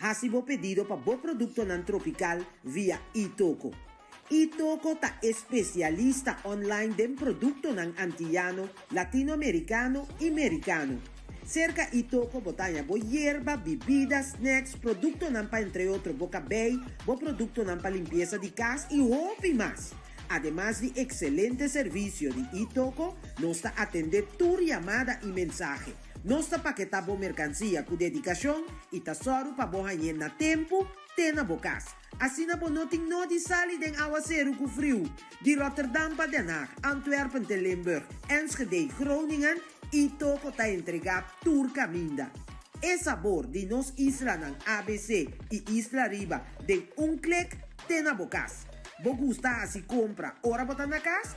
Hasi bo pedido pa bo produktonan tropikal via Itoko. Itoko ta e spesialista online den produktonan antiyano, latinoamerikano i merikano. Serka Itoko bo ta haña bo yerba, bibida, snacks, produktonan pa entre otro bo kabei, bo produktonan pa limpiesa di kas i hopi mas. Ademas di ekselente servisio di Itoko, nos ta atendé tur yamada i mensahe. Nos ta paketá bo merkansia ku dedikashon i ta sòru pa bo hañ'é na tempu te na bo kas. Asina bo no tin nodi sali den áwaseru ku friu di Rotterdam pa Den Haag, Antwerpen te Limburg, Enschedé, Groningen i toko ta entregá tur kaminda. E sabor di nos islanan ABC i Isla Riba den un klik te na bo kas. Bo gusta hasi kompra ora bo ta na kas?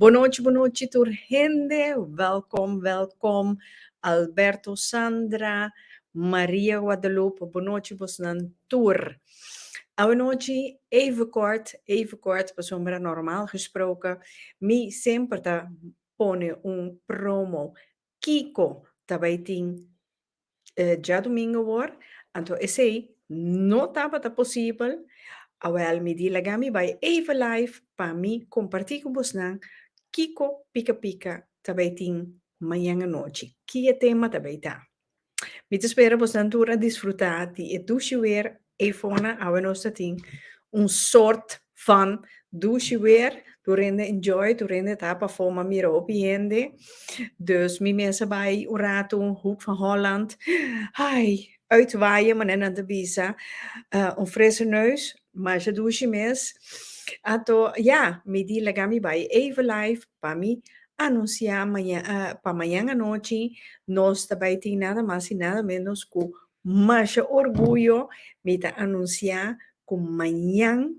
Bonochi bonochi tur hende, wèlkòm wèlkòm Alberto, Sandra, Maria Guadalupe bonochi bosnan tur. Awanochi even kort even kort pasobra nòrmal gesproke mi semper ta pone un promo Kiko ta bai tin djadumingu wor? Anto esei no tabata posibel. Awel mi di laga mi bai even live pa mi komparti ku bosnan kiko pika pika ta bai tin mañan anochi. Ki e tema ta bai ta? Mi ta spera bosan tur a disfruta di e dushi weer Eifona awe nos ta tin un sort van dushi weer tur hende enjoy tur hende ta pafó ma mira hopi hende dus mi mes a bai un ratu Hoek van Holland ai uitwaaien manera nan ta bisa un frese neus Masha dushi mes. Ato ya mi di laga mi bai even live pa mi anunsia pa mañan anochi nos ta bai tin nada mas y nada menos cu masha orguyo mi ta anunsia cu mañan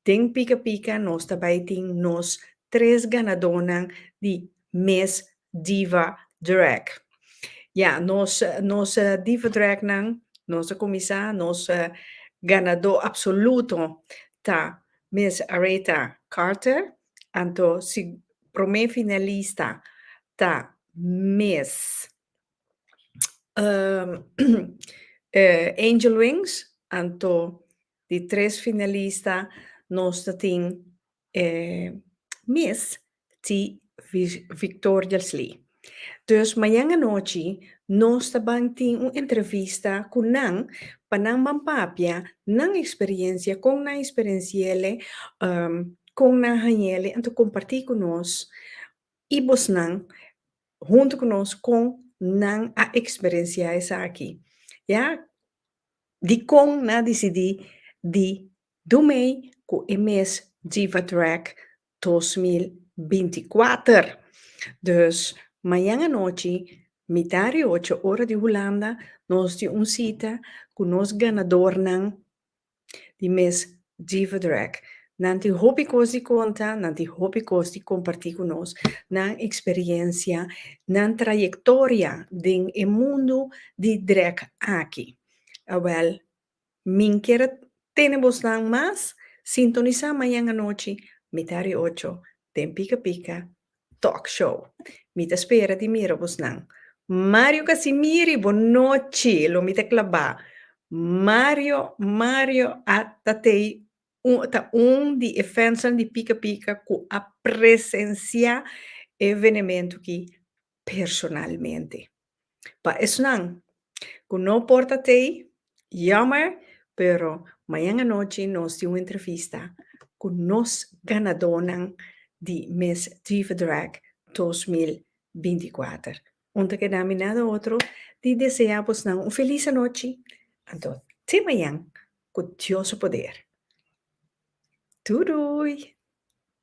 den pica pica nos ta bai tin nos tres ganadonan di mes Diva Drag. Ya, nos nos Diva Drag nan, nos a kuminsá, nos ganadó apsoluto ta mes Aretha Carter, anto si promé finalista ta mes Angel Wings, anto di tres finalista nos ta tin E mes ti Victoriasley. Dus mañan anochi nos ta ban tin un entrevista cu nan pa nan ban papia nan experiencia, con nan experienciele, con nan hañele anto comparti cu nos y bosnan hunto cu nos con nan a experiencia esaki, ya. Dicon nan a dicidi di Dumei cu e mes Diva Drag dos mil binti kuater. Dus, mañan anochi, mitá ri ocho ora di Hulanda, nos tin un cita cu nos ganadornan di mes Diva Drag. Nan tin hopi cos di conta, nan tin hopi cos di comparti cu nos, nan experiencia, nan trayectoria den e mundo di drag aki. Awel, Min kier a tene bosnan mas. Sintonisa mañan anochi mita ri ocho den Pika Pika Talk Show. Mi ta spera di mira bosnan. Mario Casimiri bo nochi lo mi ta claba. Mario Mario a ta tei ta un di e fansnan di Pika Pika cu a presencia e evenemento ki personalmente. Pa esnan cu no por ta tei, jammer, pero mañan anochi nos tin un entrevista cu nos ganadonan di Miss Diva Drag dos mil binti kuater. Un ta keda mi nada otro di desea bosnan un feliz anochi, anto te mañan cu Dios su poder. Doei doei!